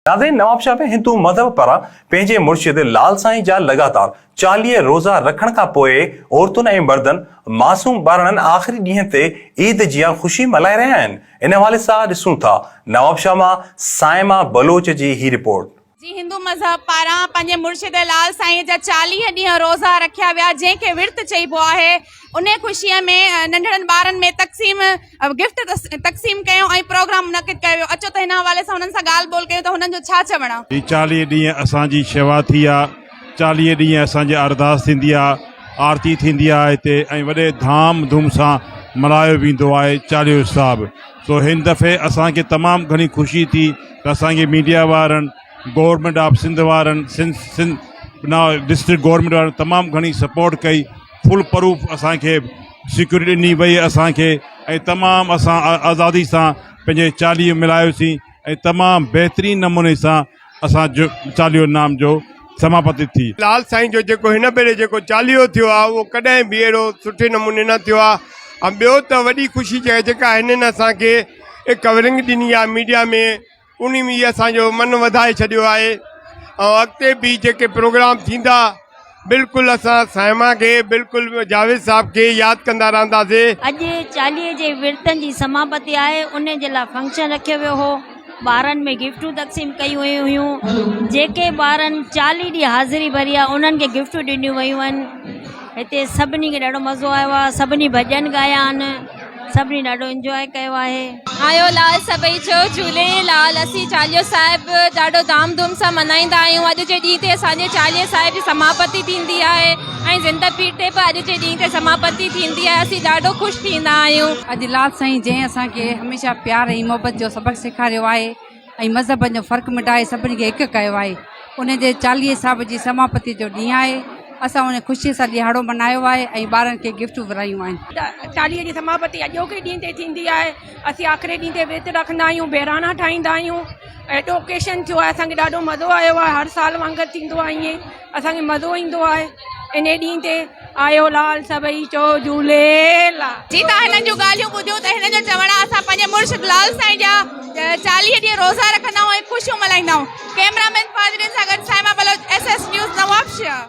ناظرين نوابشاهه ۾ هندو مذهب پاران پنهنجي مرشد لال سائين جا لڳاتار چاليهه روزا رکڻ کان پوء عورتن ۽ مردن معصوم ٻارڙن آخري ڏينهن تي عيد جيان خوشي ملهائي رهيا آهن ان حوالي سان ڏسون ٿا نوابشاهه مان صائما بلوچ جي هي رپورٽ. جي هندو مذهب پاران پنهنجي مرشد لال سائين جا چاليهه ڏينهن روزا رکيا ويا جنهن کي ورت چئبو آهي انهي خوشي ۾ ننڍڙن ٻارن ۾ تقسيم گفٽ تقسيم ڪيو ۽ پروگرام منعقد ڪيو ويو اچو ته هن حوالي سان هنن سان ڳالهه ٻولهه ڪيون ته هنن جو ڇا چوڻ آ. هي چاليهه ڏينهن اسان جي شيوا ٿي آ چاليهه ڏينهن اسان جي ارداس ٿيندي آ آرتي ٿيندي آ هتي ۽ وڏي ڌام ڌوم سان ملهايو ويندو آهي چاليهو صاحب سو هن دفعي اسان کي تمام گهڻي خوشي ٿي ته اسان کي ميڊيا وارن گورنمينٽ آف سنڌ وارن سنڌ سنڌ نا ڊسٽرڪٽ گورنمينٽ وارن تمام گهڻي سپورٽ ڪئي فول پروف اسان کي سيڪيورٽي ڏني وئي اسان کي ۽ تمام اسان آزادي سان پنهنجي چاليهو ملهايوسين ۽ تمام بهترين نموني سان اسان جو چاليهو نام جو سماپتي ٿي. لال سائين جو جيڪو هن ڀيري جيڪو چاليهو ٿيو آهي اهو ڪڏهن به اهڙو سٺي نموني نه ٿيو آهي ۽ ٻيو ته وڏي خوشي جيڪا هنن اسان کي ڪورنگ ڏني آهي ميڊيا ۾ انهي ۾ اسان جو من وڌائي ڇڏيو آهي ۽ اڳتي به جيڪي پروگرام ٿيندا بلڪل اسان صائمه کي بلڪل جاويد صاحب کي ياد ڪندا رهنداسي. اڄ چاليهي جي ورتن جي سماپتي آهي ان جي لاء فنڪشن رکيو ويو هو ٻارن ۾ گفٽون تقسيم ڪيون ويون هيون جيڪي ٻارن چاليهي ڏينهن حاضري ڀري آهي انهن کي گفٽون ڏنيون ويون آهن. هتي سڀني کي ڏاڍو مزو آيو آهي سڀني ڀڄن ڳايا آهن سڀني ڏاڍو انجواء ڪيو آهي. آيو لال سڀئي چئو جهولي لال اسين چاليهو صاحب ڏاڍو ڌام ڌوم سان منائيندا آهيون اڄ جي ڏينهن تي اسان جي چاليهي صاحب جي سماپتي ٿيندي آهي ۽ زنده پير تي به اڄ جي ڏينهن تي سماپتي ٿيندي آهي اسين ڏاڍو خوش ٿيندا آهيون. اڄ لال سائين جنهن اسان کي هميشه پيار ۽ محبت جو سبق سيکاريو آهي. ۽ مذهبن جو فرق مٽائي سڀني کي هڪ ڪيو آهي ان جي چاليهي صاحب جي سماپتي جو ڏينهن آهي اسان ان خوشي سان ڏيهاڙو ملهايو آهي ۽ ٻارن کي گفٽون ورهايون آهن. چاليهي جي سماپتي اڄوڪي ڏينهن تي ٿيندي آهي اسين آخري ڏينهن تي ورت رکندا آهيون بهراڻا ٺاهيندا آهيون اهو اهڙو اوڪيشن ٿيو آهي اسان کي ڏاڍو مزو آيو آهي هر سال وانگر ٿيندو آهي ائين اسان کي مزو ايندو آهي انهي ڏينهن تي آيو لال سڀئي چئو جهوليلا. جي تهان هنن جون ڳالهيون ٻڌيون ته هنن جو چوڻ آهي اسان پنهنجي مرشد لال سائين جا چاليهه ڏينهن روزا رکندا آهيون ۽ خوشيون ملهائيندا آهيون ڪئميرا مين فاضلين سان گڏ Saima Baloch S S news نوابشهر.